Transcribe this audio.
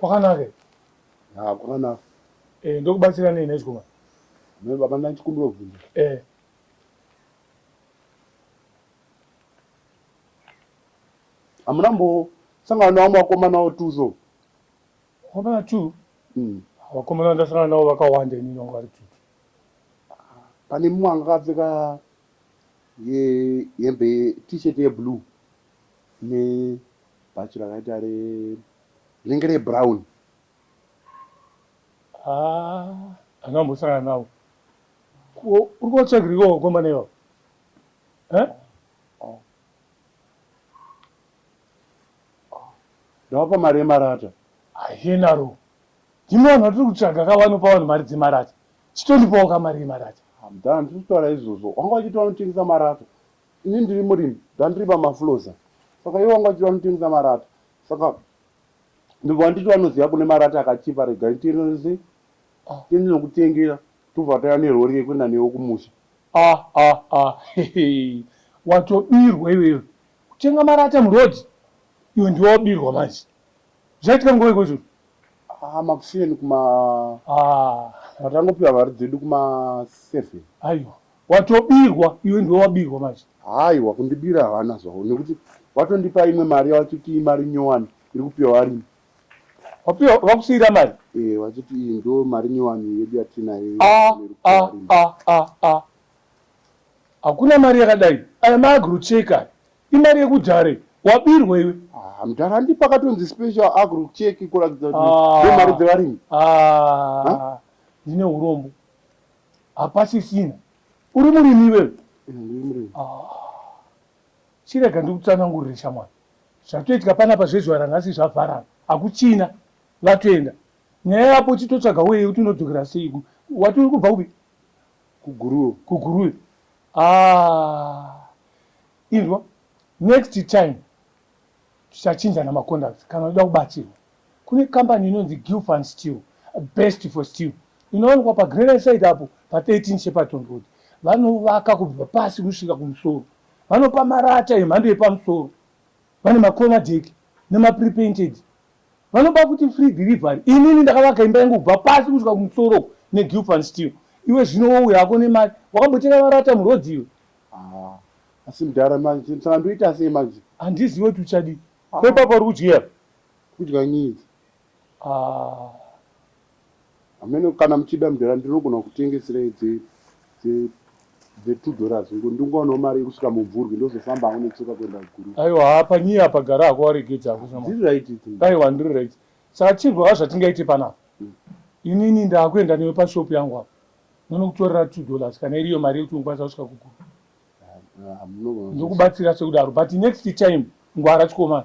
Kwakanaka here? Ah, kwakanaka. Eh, ndokubatsira nei nhai chikomana? Me baba ndandikumbira kubvunza. Eh. Hamuna mbo sangana nawo makomana wo two so. Komana two? Mm. Vakomana ndasangana nawo vakawanda ini nongo vari kiti. Pane mumwe anga akapfeka ye hembe t-shirt ye blue. ne bhachi rakaita re rinenge re brown haa handina kumbosangana nawo Ko- uri kotsvagiriko vakomana ivavo Eh? ndawapa mari yemarata hayenaro ndimwe vanhu vatiri kutsvaga ka vanopa vanhu mari dzemarata chitondipawo ka mari yemarata hamdana tiri kutaura izvozvo wanga wachiti vanotengesa marata Ini ndiri murimi ndandiri pamafuloza saka iye wanga achida kunditengesa marata saka ndobva wanditi vanoziva kune marata akachipa rega nditenese tendinokutengera tobva taya nerori yekuenda newo kumusha ah ah ah hehe watobirwa iwewe kutenga marata muroad iwe ndiwe wabirwa manje zvaitika nguva iko izvozvo ah makuseni kuma ah. patangopiwa mari dzedu kuma seven aiwa Watobirwa iwe ndiwe wabirwa manje. Haiwa kundibira havana zvavo nekuti vatondipa imwe mari yavachiti imari nyowani iri kupiwa varimi. Wapiwa vakusiira mari? Eh vachiti iyi ndo mari nyowani yedu yatinayo iyo Ah, iri kupiwa ah, varimi. ah, ah, ah. Hakuna mari yakadai. Aya maagro check aya. Imari yekudhare. Wabirwa iwe. Ah, mdhara andipa akatonzi special agro check kuratidza kuti Ah. ndo mari dzevarimi. Ah. Ndine urombo. hapasisina uri murimi iwewe chirega ndikutsanangurire shamwari zvatoitika panapa zvezuva ranhasi zvavharana hakuchina vatoenda nyaya yapo chitotsvaga weye kuti unodzokera seiku wati uri kubva kupi kuguruwe kuguruwe ah, inzwa next time tichachinjana maconduct kana uda kubatsirwa Kune kambani inonzi Gilfan Steel, best for steel, inowanikwa paGrena side apo pa 13 Shepperton Road. Vanovaka kubva pasi kusvika kumusoro. Vanopa marata emhando yepamusoro. Vane ma corner deck nema pre painted. Vanopa futi free delivery. Inini ndakavaka imba yangu kubva pasi kusvika kumusoro uko ne Gilfan Steel. Iwe zvino wouya hako nemari. Wakambotenga marata muroad iwe? Haa asi mdhara manje ndsandoita sei manje. Handizive kuti uchadii. Ko ipapo uri kudyei apa? Kudya needs. Ah. Hameno kana muchida mdara ndinogona kutengeserai dze dze dze 2 dollars ngo ndingowanawo mari yekusvika mumvurwi ndozofambawo netsoka kuenda kuguru. Aiwa haa panyii apa gara hako waregedza hako shamwari. Ndiri right idzi. Aiwa ndiri right. Saka chirwa haa zvatingaite panapa. Mm. Inini ndakuenda newe pashop yangu apa. Ndonokutorera 2 dollars kana iriyo mari yekuti unokwanisa kusvika kuguru. Ah, ah, Ndokubatsira sekudaro but next time ngwara chikomana.